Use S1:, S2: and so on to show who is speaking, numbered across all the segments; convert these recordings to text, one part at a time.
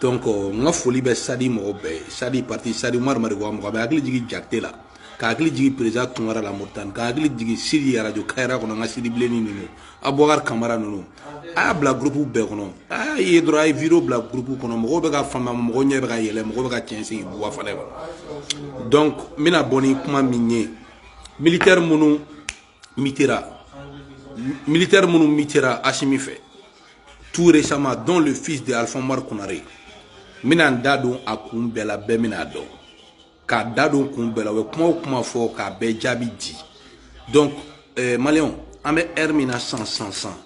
S1: donc euh, n ka foli bɛ sadi mɔgɔ bɛɛ ye sadi parti sadi umaru mariko mɔgɔ bɛɛ hakili jigin jakite la ka hakili jigin perezida tunkara la moritani ka hakili jigin sidi arajo kayira kɔnɔ n ka sidi bilenni ninnu abubakar kamara ninnu a y'a bila gurupu bɛɛ kɔnɔ a ye dɔrɔn a ye video bila gurupu kɔnɔ mɔgɔw bɛ ka faamu mɔgɔw ɲɛ bɛ ka yɛlɛ mɔgɔw bɛ ka cɛn sigi buba fanɛ kɔnɔ donc n bɛna bɔ ni kuma min ye militaire minnu Mitera, militaire minnu mitera Asimi fɛ, tout récemment, dont le fils de Alpha Oumar Konare, n bɛna n da don a kun bɛɛ la, bɛɛ bɛna a dɔn. K'a da don kun bɛɛ la, u bɛ kuma o kuma fɔ k'a bɛɛ jaabi di. Donc, euh, Maliyɛnw, an bɛ heure min na sisan sisan sisan,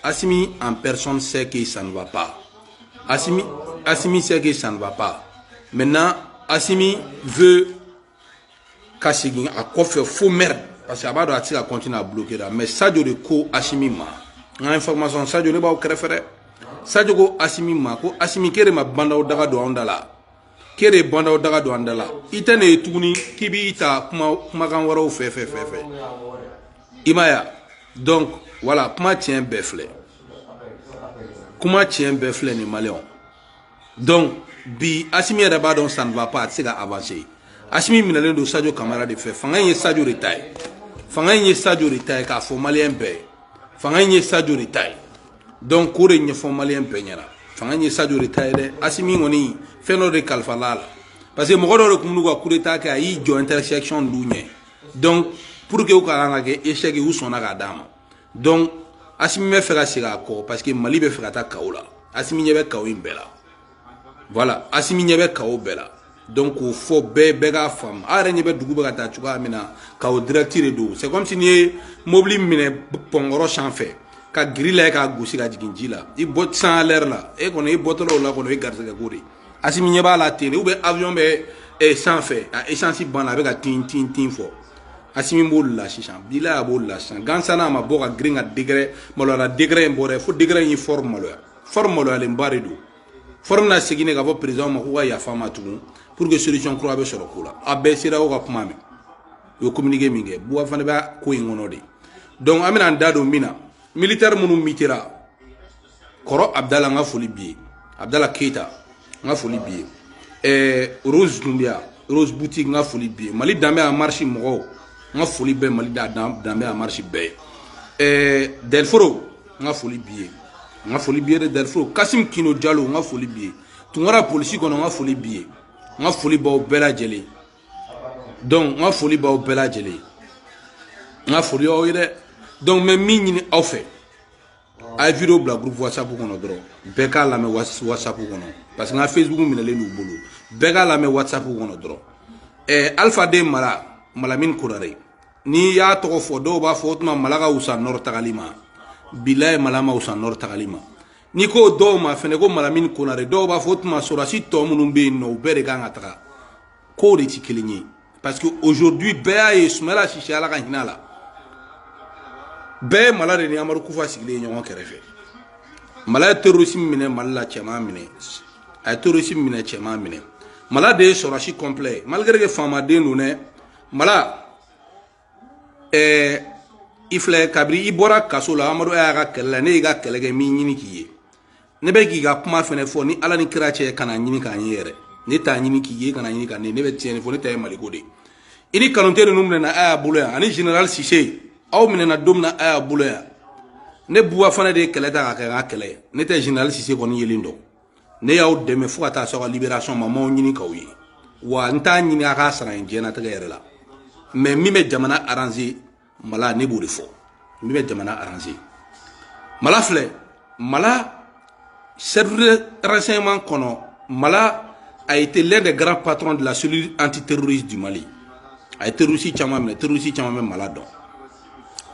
S1: Asimi en personne sait que ça ne va pas. Asimi, Asimi sait que ça ne va pas. Maintenant, Asimi veut ka segin a kɔfɛ fo mɛri parce que a b'a dɔn a tɛ se ka kɔntini a blokera mais sajo de ko asimi ma n ka information sajo ne b'aw kɛrɛfɛ dɛ sajo ko asimi ma ko asimi k'e de ma bandaw daga don anw da la k'e de ye bandaw daga don an da la i tɛ ne ye tuguni k'i b'i ta kuma kumakan wɛrɛw fɛ fɛ fɛ fɛ i ma ya donc voilà kuma tiɲɛ bɛɛ filɛ kuma tiɲɛ bɛɛ filɛ nin maliyɛnw donc bi asimi yɛrɛ b'a dɔn ça ne va pas a tɛ se ka avancer asimi minɛlen don sadio kamara de fɛ fanga in ye sadio de ta ye fanga in ye sadio de ta ye k'a fɔ maliyɛn bɛɛ ye fanga in ye sadio de ta ye donc k'o de ɲɛfɔ maliyɛn bɛɛ ɲɛna fanga in ye sadio de ta ye dɛ asimi kɔni fɛn dɔ de kalifala a la parce que mɔgɔ dɔ de tun b'u ka coup d'état kɛ a y'i jɔ intersection de ɲɛ donc pour que u kana na kɛ échec ye u sɔnna k'a d'a ma donc asimi bɛ fɛ ka segin a kɔ parce que mali bɛ fɛ ka taa chaos la asimi ɲɛ bɛ chaos in bɛɛ la voilà asimi ɲɛ bɛ chaos bɛɛ la donc k'o fɔ bɛɛ bɛɛ k'a faamu a yɛrɛ ɲɛ bɛ dugu bɛ ka taa cogoya min na chaos direct de don c'est comme si n'i ye mobili minɛ pɔnkɔrɔ sanfɛ ka grillage k'a gosi ka jigin ji la i bɔ san lɛri la e kɔni i bɔtɔla o la kɔni o ye garisɛgɛ ko de ye asimi ɲɛ b'a la tele ou bien aviɔn bɛ eh, sanfɛ a esansi banna a bɛ ka tin tin tin fɔ asimi b'o la sisan bila a b'o la sisan gansana a ma bɔ ka girin ka décret maloyara décret in bɔra fo décret in ye fɔri maloya fɔri maloyalenba de don fɔri bɛna segin de k'a fɔ perezan ma k'u ka yafa ma tugun pour que solution kura bɛ sɔrɔ ko la a bɛɛ sera o ka kuma mɛn u ye communiqué min kɛ buba fanɛ bɛ ko in kɔnɔ de donc an bɛna an da don min na militaire minnu mitera kɔrɔ abdala n ka foli b'i ye abdala keyita n ka foli b'i ye ɛɛ rose dunbiya rose boutique n ka foli b'i ye mali danbe en marche mɔgɔw n ka foli bɛ mali da danbe en marche bɛɛ ye ɛɛ delforo n ka foli b'i ye n ka foli b'i ye dɛ delforo kasim kino jalo n ka foli b'i ye tunkara polisi kɔnɔ n ka foli b'i ye n ka foli b'aw bɛɛ lajɛlen donc n ka foli b'aw bɛɛ lajɛlen n ka foli y'aw ye dɛ donc n bɛ min ɲini aw fɛ a ye video bila groupe whatsapp kɔnɔ dɔrɔn bɛɛ k'a lamɛn whatsapp kɔnɔ parce que n ka facebook minɛlen d'u bolo bɛɛ k'a lamɛn whatsapp kɔnɔ dɔrɔn ɛɛ alpha den mala malamin konare n'i y'a tɔgɔ fɔ dɔw b'a fɔ o tuma mala ka wusa nɔrɔ tagali ma bilaye mala ma wusa nɔrɔ tagali ma n'i ko dɔw ma fɛnɛ ko malamin konare dɔw b'a fɔ o tuma sɔrɔdasi tɔ minnu bɛ yen nɔ u bɛɛ de kan ka taga k'o de tɛ kelen ye parce que aujourd'hui bɛɛ y'a ye Sumayila Sise Ala ka hinɛ a la bɛɛ ye Mala de ni Amadu Kufa sigilen ye ɲɔgɔn kɛrɛfɛ Mala ye terroriste minɛ Mali la cɛman minɛ a ye terroriste minɛ cɛman minɛ Mala de ye sɔrɔdasi complet malgré que faamaden don dɛ Mala ɛɛ i filɛ kabiri i bɔra kaso la amadu y'a ka kɛlɛ la ne y'i ka kɛlɛ kɛ n m'i ɲini k'i ye ne bɛ k'i ka kuma fɛnɛ fɔ ni ala ni kira cɛ kana ɲini ka n ye yɛrɛ ne t'a ɲini k'i ye kana ɲini ka ne ne bɛ tiɲɛ de fɔ ne ta ye maliko de ye i ni kanute ninnu minɛna a y'a bolo yan ani general sise aw minɛna don min na a y'a bolo yan ne buwa fana de ye kɛlɛ ta ka kɛ n ka kɛlɛ ye ne tɛ general sise kɔni yelen dɔn ne y'aw dɛmɛ fo ka taa s'aw ka liberation ma m'aw ɲini k'aw ye wa n t'a ɲini a ka n sara n diɲɛnatigɛ yɛrɛ la mais min bɛ jamana aranze mala ne b'o de fɔ min bɛ jamana aranze mala filɛ mala service renseignement kɔnɔ mala a été l'un des grands patrons de la cellule antiterroriste du mali a ye terroriste caman minɛ terroriste caman bɛ mala dɔn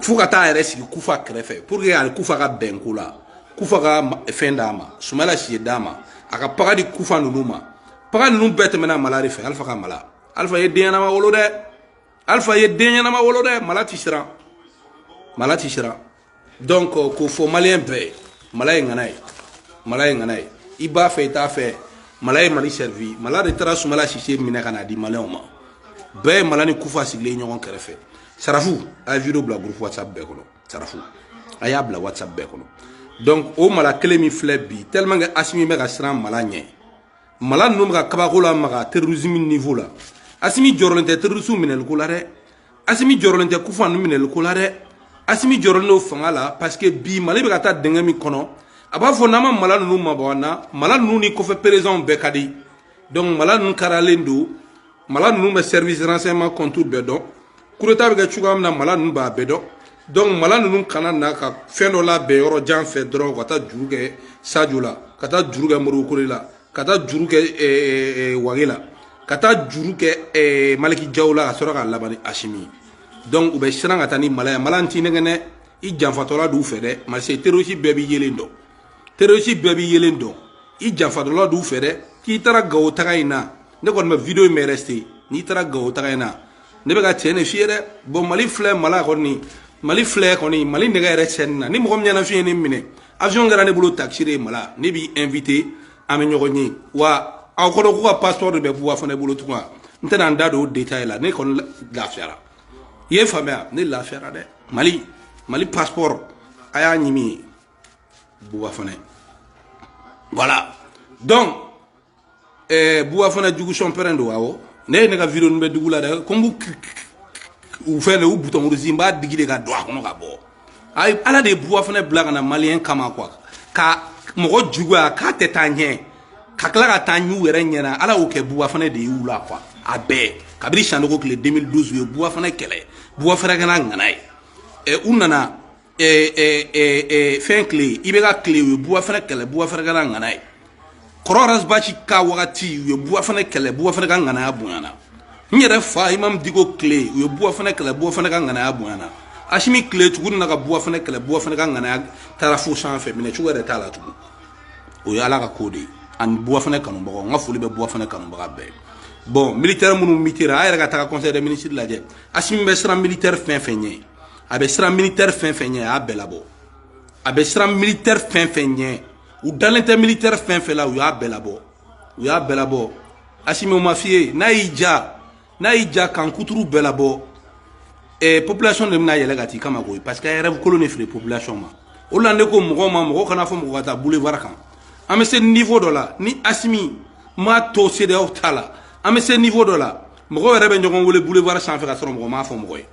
S1: fo ka taa yɛrɛ sigi kufa kɛrɛfɛ pour que a ni kufa ka bɛn ko la kufa ka fɛn d'a ma sumala sise d'a ma a ka paga di kufa ninnu ma paga ninnu bɛɛ tɛmɛna mala de fɛ alifa ka mala alifa ye den ɲɛnama wolo dɛ alifa ye den ɲɛnama wolo dɛ mala ti siran mala ti siran donc k'o fɔ maliyɛn bɛɛ ye mala ye ŋana ye mala ye ŋana ye i b'a fɛ i t'a fɛ mala ye mali servi mala de taara sumala sise minɛ ka na di maliyɛnw ma bɛɛ ye mala ni kufa sigilen ɲɔgɔn kɛrɛfɛ sarafu a ye video bila groupe whatsapp bɛɛ kɔnɔ sarafu a y'a bila whatsapp bɛɛ kɔnɔ donc o mala kelen min filɛ bi tellement que asimi bɛ ka siran mala ɲɛ mala ninnu bɛ ka kabako lamaga terrorisme niveau la asimi jɔrɔlen tɛ terroriste minɛli ko la dɛ asimi jɔrɔlen tɛ kufa ninnu minɛli ko la dɛ asimi jɔrɔlen don fanga la parce que bi mali bɛ ka taa dingɛ min kɔnɔ a b'a fɔ n'an ma mala ninnu mabɔ an na mala ninnu ni kɔfɛ perezidanw bɛɛ ka di donc mala ninnu karalen don mala ninnu bɛ service renseignement compte bɛɛ dɔn kudeta bɛ kɛ cogoya min na mala ninnu b'a bɛɛ dɔn donc mala ninnu kana na ka fɛn dɔ labɛn yɔrɔ jan fɛ dɔrɔn ka taa juru kɛ sajo la ka taa juru kɛ modibo kone la ka taa juru kɛ eh, eh, eh, wage la ka taa juru kɛ maliki jaw la ka sɔrɔ ka laban ni asimi donc u bɛ siran ka taa ni mala ye mala n t'i nɛgɛn dɛ i janfatɔla d'u fɛ dɛ barisa terrorisi bɛɛ b'i yelen dɔn terrorisi bɛɛ b'i yelen dɔn i janfatɔla d'u fɛ dɛ k'i taara gawo taga in na ne kɔni bɛ video in bɛ reste n'i taara gawo taga in na ne bɛ ka cɛ ne fiyɛ dɛ bɔn mali filɛ mala kɔni mali filɛ kɔni mali nɛgɛ yɛrɛ cɛni na ni mɔgɔ min ɲɛna fiye ne minɛ avion kɛra ne bolo taxi de mala ne b'i invité an bɛ ɲɔgɔn ye wa aw kɔnɔ k'u ka passeport de bɛ buba fanɛ bolo tugun n tɛna n da don o détail la ne kɔni lafiyara i y'a faamuya ne lafiyara dɛ mali mali passeport a y'a ɲimi buba fanɛ voilà donc eh, buba fanɛ jugu sɔnpɛrɛn don awɔ ne ye ne ka video ninnu bɛ dugu la dɛ ko n b'u u fɛn de u butɔn kurusi n b'a digi de ka don a kɔnɔ ka bɔ ayi ala de ye buba fanɛ bila ka na maliyɛn kama kuwa ka mɔgɔ juguya k'a tɛ taa ɲɛ ka tila ka taa u yɛrɛ ɲɛna ala y'o kɛ buba fanɛ de y'u la kuwa a bɛɛ kabiri sanogo tile 2012 u ye buba fanɛ kɛlɛ buba fanɛ kɛra ŋana ye ɛ u nana fɛn tile IBK tile u ye buba fanɛ kɛlɛ buba fanɛ kɛra ŋana ye ko rasibati ka wagati u ye buba fanɛ kɛlɛ buba fanɛ ka ŋanaya bonyana n yɛrɛ fa imamu diko tile u ye buba fanɛ kɛlɛ buba fanɛ ka ŋanaya bonyana asimi tile tugun na ka buba fanɛ kɛlɛ buba fanɛ ka ŋanaya taara fo sanfɛ minɛ cogo yɛrɛ t'a la tugun o ye ala ka ko de ye ani buba fanɛ kanubagaw n ka foli bɛ buba fanɛ kanubaga bɛɛ bɔn militɛri minnu mutira a yɛrɛ ka taga conseil des ministres lajɛ asimi bɛ siran militɛri fɛn fɛn ɲɛ a bɛ siran militaire fɛn fɛn ɲɛ a y'a bɛɛ labɔ a bɛ siran militaire fɛn fɛn ɲɛ u dalen tɛ militaire fɛn fɛn la u y'a bɛɛ labɔ u y'a bɛɛ labɔ asimi o ma f'i ye n'a y'i ja n'a y'i ja kan kuturu bɛɛ labɔ eh, population de bɛna yɛlɛ ka t'i kama koyi parce que a yɛrɛ kolo ne feere population ma o la ne ko mɔgɔ ma mɔgɔ kana fɔ mɔgɔ ka taa boulevard kan an bɛ se niveau dɔ la ni asimi m'a to CEDEAO ta la an bɛ se niveau dɔ la mɔgɔw yɛrɛ bɛ ɲɔgɔn wele boulevard sanfɛ ka sɔrɔ mɔgɔ m'a fɔ mɔgɔ ye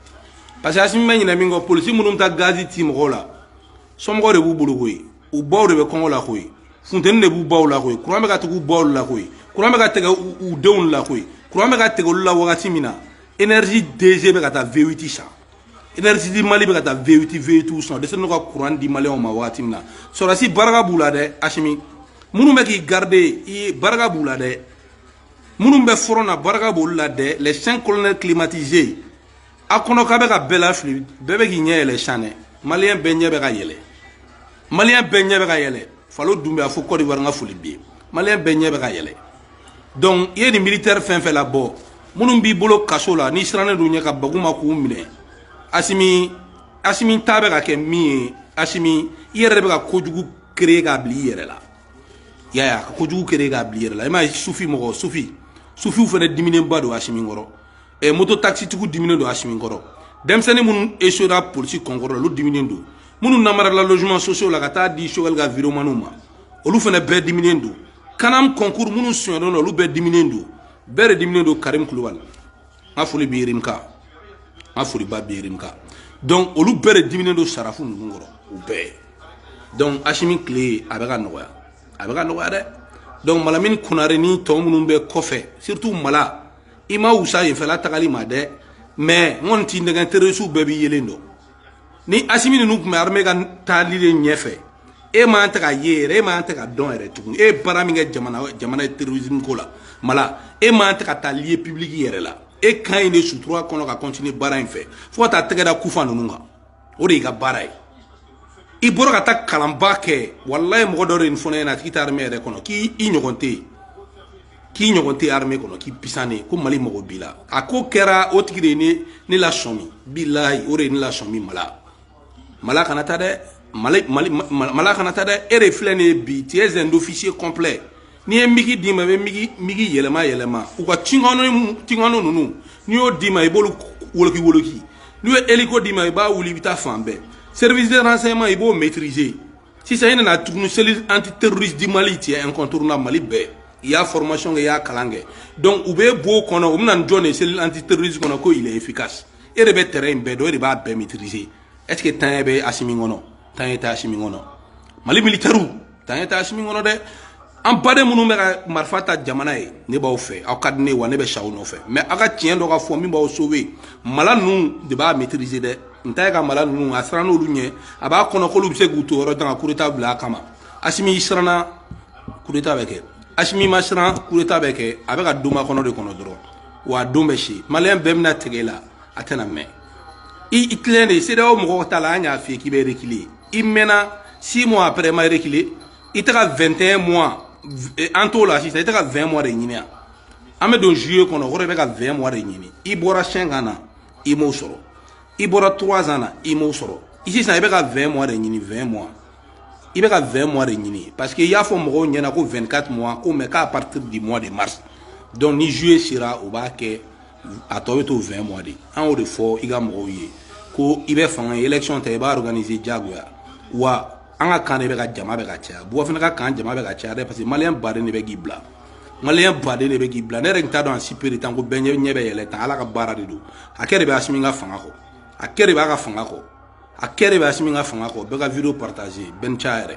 S1: parce que asimi bɛ ɲinɛ min kɔ polisi minnu bɛ taa gazi ci mɔgɔw la somɔgɔw de b'u bolo koyi u baw de bɛ kɔngɔ la koyi funteni de b'u baw la koyi kuran bɛ ka tɛgɛ u baw la koyi kuran bɛ ka tɛgɛ u denw la koyi kuran bɛ ka tɛgɛ olu la wagati min na énergie DG bɛ ka taa V8 san énergie du Mali bɛ ka taa V8 V8 san o dɛsɛlen don ka kuran di maliyɛnw ma wagati min na sɔrɔdasi barika b'u la dɛ asimi minnu bɛ k'i garder i barika b'u la dɛ minnu bɛ front na barika b'olu la dɛ les cinq colonels climatisés a kɔnɔ k'a bɛ ka bɛɛ lafili bɛɛ bɛ k'i ɲɛ yɛlɛ sisan dɛ maliyɛn bɛɛ ɲɛ bɛ ka yɛlɛ maliyɛn bɛɛ ɲɛ bɛ ka yɛlɛ falo dun bɛ a fɔ kɔdiwari n ka foli b'i ye maliyɛn bɛɛ ɲɛ bɛ ka yɛlɛ donc i ye nin militaire fɛn fɛn labɔ minnu b'i bolo kaso la n'i sirannen don u ɲɛ ka bag'u ma k'u minɛ asimi asimi ta bɛ ka kɛ min ye asimi i yɛrɛ de bɛ ka kojugu créer k'a bila i yɛrɛ la ya ya ko jugu kere ga bli yɛrɛ la ima sufi mɔgɔ sufi sufiw fana diminenba don asimi kɔrɔ eh, moto taxi tigiw diminen don asimi kɔrɔ denmisɛnnin minnu esuwera polisi concours olu diminen don minnu namarala logement sociaux la ka taa di choguel ka videomaniw ma olu fana bɛɛ diminen don kanam concours minnu sonyɛlen don olu bɛɛ diminen don bɛɛ de diminen don karim kulubali n ka foli b'i ye rimka n ka foliba b'i ye rimka donc olu bɛɛ de diminen don sarafu ninnu kɔrɔ u bɛɛ donc asimi tile a bɛ ka nɔgɔya a bɛ ka nɔgɔya dɛ donc malamini kunare ni tɔw minnu bɛ kɔfɛ surtout mala i ma wusa yenfɛla tagali ma dɛ mais n kɔni t'i nɛgɛn terrorisiw bɛɛ b'i yelen dɔn ni asimi ninnu tun bɛ armée ka taali de ɲɛfɛ e man tɛ ka ye yɛrɛ e man tɛ ka dɔn yɛrɛ tuguni e ye baara min kɛ jamana jamana ye terrorisme ko la mala e man tɛ ka taa lieu public yɛrɛ la e ka ɲi de sutura kɔnɔ ka continuer baara in fɛ fo ka taa tɛgɛ da kufa ninnu kan o de y'i ka baara ye i bɔra ka taa kalanba kɛ walayi mɔgɔ dɔ de nin fɔ ne ɲɛna a tigi tɛ armée yɛrɛ kɔnɔ k'i ɲɔgɔn tɛ yen k'i ɲɔgɔn tɛ armée kɔnɔ k'i puissant ne ko mali mago b'i la a ko kɛra o tigi de ye ne ne lasɔmi bilahi o de ye ne lasɔmi mala mala kana taa dɛ mali mali mala kana taa dɛ e de filɛ nin ye bi tu es un officier complet n'i ye migi d'i ma i bɛ migi migi yɛlɛma yɛlɛma u ka tucano tucano ninnu n'i y'o d'i ma i b'olu woloki woloki n'u ye eliko d'i ma i b'a wuli i bɛ taa fan bɛɛ service de renseignement i b'o maîtriser sisan i nana tuguni cellule anti terroriste du mali tu es incontournable mali bɛɛ i y'a formation kɛ i y'a kalan kɛ donc u bɛ b'o kɔnɔ u bɛna nin jɔn de ye cellule anti terroriste kɔnɔ ko il est efficace e de bɛ terrain in bɛɛ dɔn e de b'a bɛɛ maîtriser est ce que taaɲɛ bɛ asimi kɔnɔ taaɲɛ tɛ asimi kɔnɔ mali militairew taaɲɛ tɛ asimi kɔnɔ dɛ an baden minnu bɛ ka marifa ta jamana ye ne b'aw fɛ aw ka di n ye wa ne bɛ sa aw nɔfɛ mais aw ka tiɲɛ dɔ ka fɔ min b'aw sauver mala ninnu de b'a maîtriser dɛ n ta ye ka mala ninnu a sirannen olu ɲɛ a b'a kɔnɔ k'olu bɛ se k'u to yɔrɔ jan ka coup d'état bila a kama asimi i siranna coup d'état bɛ kɛ asimi ma siran coup d'état bɛ kɛ a bɛ ka donba kɔnɔ de kɔnɔ dɔrɔn wa a don bɛ se maliyɛn bɛɛ bɛna tigɛ i la a tɛna mɛn i i tilen de sedeyaw mɔgɔw ta la an y'a f'i ye k'i bɛ reculer i mɛnna six mois après ma reculer i tɛ ka 21 mois eh, an t'o la sisan i tɛ ka 20 mois de ɲini yan an bɛ don juillet kɔnɔ o kɔrɔ i bɛ ka 20 mois de ɲini i bɔra 5 ans na i m'o sɔrɔ i bɔra 3 ans na i m'o sɔrɔ i sisan i bɛ ka 20 mois de ɲini 20 mois i bɛ ka 20 mois de ɲini parce que i y'a fɔ mɔgɔw ɲɛna ko 24 mois ko mais k'a partir du mois de mars donc ni juillet sera u b'a kɛ a tɔ bɛ to 20 mois de an y'o de fɔ i ka mɔgɔw ye ko i bɛ fanga ye election tɛ i b'a organiser diyagoya wa an ka camp de bɛ ka jama bɛ ka caya buwa fana ka camp jama bɛ ka caya dɛ parce que maliyɛn baden de bɛ k'i bila maliyɛn baden de bɛ k'i bila ne yɛrɛ tun t'a dɔn a espérer tan ko bɛɛ ɲɛ ɲɛ bɛ yɛlɛ tan ala ka baara de don hakɛ de bɛ asimi ka fanga kɔ hakɛ de b'a ka fanga kɔ hakɛ de bɛ asimi ka fanga kɔ bɛɛ ka video partager bɛɛ ni ca yɛrɛ